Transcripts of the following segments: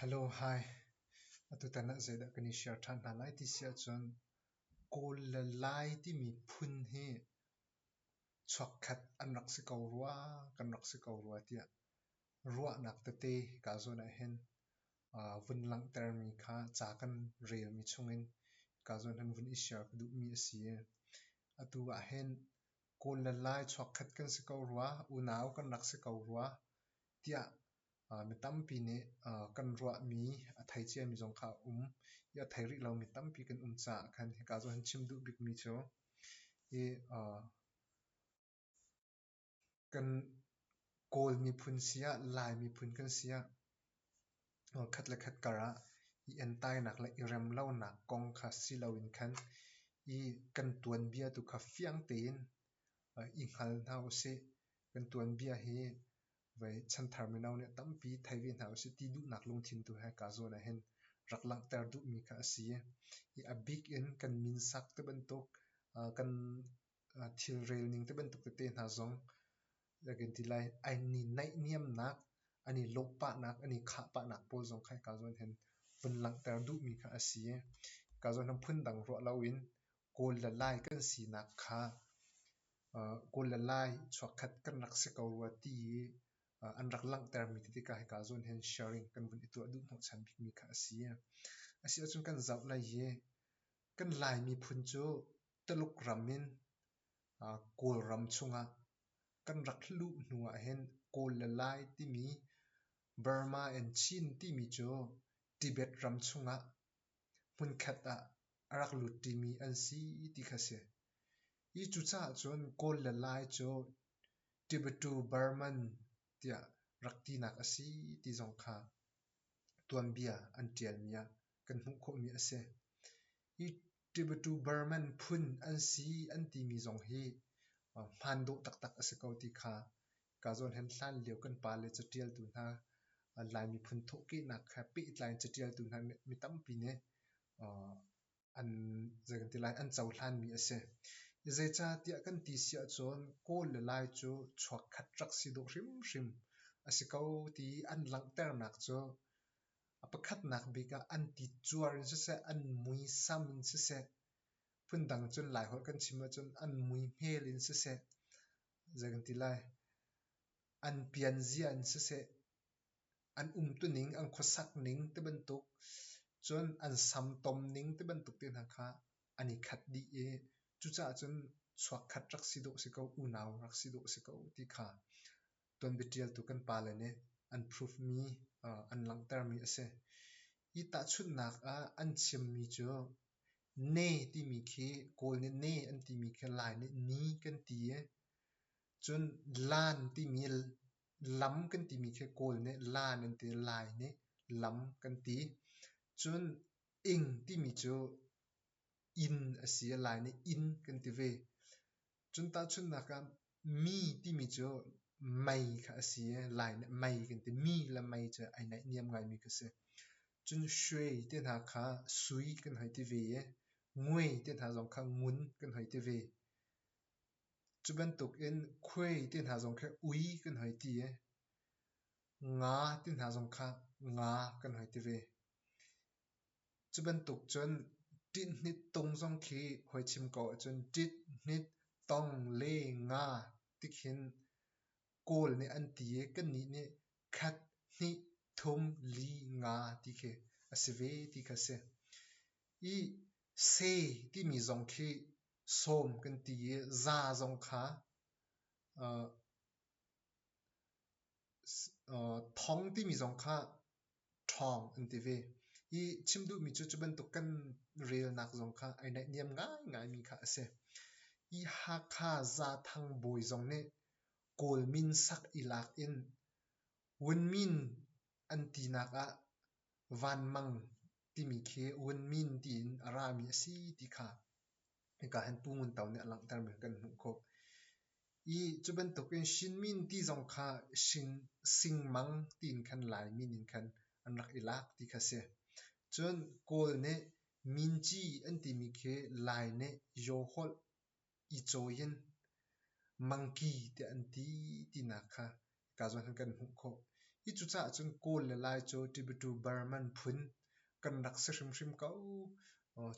Hello, hi. Atutan ah zeidah kan i share ṭhan hna lai ti si ahcun Kawl le Lai timi phun hi chuakkhat an rak si ko rua, kan rak si ko rua tiah ruahnak tete kaa zawn ahhin aa vun langhtermi kha ca kan relmi chungin kaa zawn ahhin vun i share ka duhmi a si i atu ahhin Kawl le Lai chuakkhat kan si ko rua, unau kan rak si ko rua tiah Mi tampi nih kan ruahmi a thei ciami zong kha a um i a thei rih lomi tampi kan um caah khan hika ah hin chim duh bikmi cu hi kan Kawl miphun si ah Lai miphun kan si ah khat le khat kar ah i entainak le i rem lonak kong kha si loin khan i kan tuanbia tu kha fiang tein i hngal hna u sih. Kan tuanbia hi Vei, chanthar mino nih a tampi thei ve hna usih ti duhnak lungthin tu he kaa zawn ahhin rak langhter duhmi kha a si i a bik in kan min sak te bantuk kan thilrel ning te bantuk tete hna zong kan ti lai an i naihniamnak an i lawhpahnak an i khahpahnak pawl zong kha kaa zawn hin vun langhter duhmi kha a si i kaa zawn hin phundang ruah loin Kawl le Lai kan sinak kha uh, Kawl le Lai chuakkhat kan rak si ko rua ti i uh, an rak langhtermi titi ka hika zawn hen sharing kan vun i tuah duh hnawhchan bikmi kha a si. Asi ahcun kan zoh lai hi kan Laimi phun cu Taluk ram in uh, Kawl ram chungah kan rak luh hnu ah hin Kawl le Lai timi Burma and Chin timi cu Tibet ram chungah hmunkhat ah a rak lut ṭimi an si ti kha a si. Hi cucaah cun Kawl le Lai cu Tibeto-Burman tiah rak tinak a si ti zong kha tuanbia an ṭialmi ah kan hmuh khawhmi a si. Hi Tibeto-Burman phun an si an timi zong hi hmaan dawh taktak a si ko ti kha Kazaw hlen hlan lio kan pa le catialtu hna, Laimi phun thawhkehnak he pehtlai in catialtu hna mi tampi nih an zei kan ti lai an cohlanmi a si. Zeicahtiah kan ti si ahcun Kawl le Lai cu chuakkhat rak si dawh hrimhrim a si ko ti i an langhternak cu a pakhatnak bik ah an ti cuar in siseh, an muisam in siseh, phundang cun Lai holh kan chim ahcun an muihmel in siseh, Zei kan ti lai? An pianzia in siseh, an umtuning, an khuasakning ti bantuk, cun an samtomning ti bantuk te hna kha an i khat dih i cucaah cun chuakkhat rak si dawh si ko, unau rak si dawh si ko ti kha tuanbiatialtu kan pale nih an proof mi, an langhtermi a si. Hi tahchunhnak ah an chimmi cu ne timi khi kawl nih ne an timi khi lai nih ni kan ti i cun lan timi lam kan timi khi kawl nih lan an ti lai nih lam kan ti cun ing timi cu inn a si lai nih inn kan ti ve Cun tahchunhnak ah mi timi cu mei kha a si i lai nih mei kan ti. Mi le mei cu ai naihniam ngaimi kha a si. Cun sui te hna kha sui kan hoi ti ve i ngui te hna zong kha ngun kan hoi ti ve. Cu bantukin khuai te hna zong kha ui kan hoi ti i nga te hna zong kha nga kan hoi ti ve. Cu bantuk cun ṭinhnit tung zong khi hoi chim ko ahcun ṭit, hnit, tong, le, nga ti khin kawl nih an ti i kannih nih khat, hnih, thum, li, nga ti khi a si ve ti kha a si. I se timi zong khi sawm kan ti i za zong kha uh, uh, thong timi zong kha ṭhawng an ti ve i chim duhmi cu cu bantuk kan relnak zong kha ai naihniam ngaingaimi kha a si. I Hakha Zaathang bawi zong nih Kawl min sak i lak in Wunmin an tinak ah Van Mang timi khi Wunmin tiin a rami a si ti kha Hika hin Pu Ngun To nih a langhtermi kan hmuh khawh. I cu bantuk in Shinmin ti zong kha shing, singmang tiin khan Laimi ning khan an rak i lak ti kha si. Cun Kawl nih Minci an timi khi Lai nih Yawholh, Icaw yin, Mangki tiah an ti tinak kha ka zawn kan hmuh khawh. Hi cucaah cun Kawl le Lai cu Tibetu-Burman phun kan rak si hrimhrim ko.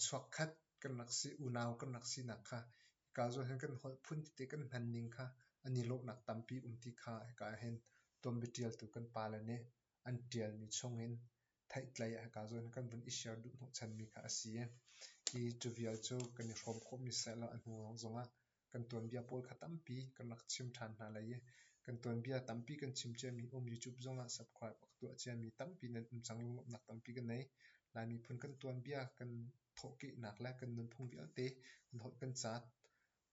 Chuakkhat kan rak si, unau kan rak sinak kha hika zawn hin kan holh phun tete kan hmanning kha an i lawhnak tampi um ti kha hika hin tuanbia ṭialtu kan pale nih an ṭialmi chungin theihtlei hika zawn kan vun i share duh hnawhchanmi kha a si i, hi cu vial cu kan i hrawm khawhmi sehlaw a hnu zongah kan tuanbia pawl kha tampi kan rak chim ṭhan hna lai i kan tuanbia tampi kan chim ciami um YouTube zongah subscribe a ka tuah ciami tampi nan um cang lunglamnak tampi kan nei. Lai miphun kan tuanbia kan thawhkehnak le kan nunphung vialte kan holh kan caat.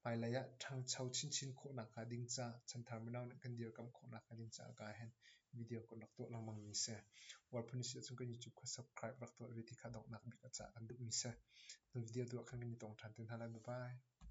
Hmailei ah ṭhangcho chinchin khawhnak hnga ding ca, chanthar mino nih kan dirkamh khawhnak hnga ding ca ka hen video kan rak tuah lengmang mi si. Wal phun si ahcun kan YouTube kha subscribe rak tuah ve ti kha donghnak bik a ca kan duhmi si. Nu video tuah khan kan i tong ṭhan te hna lai. Bye bye.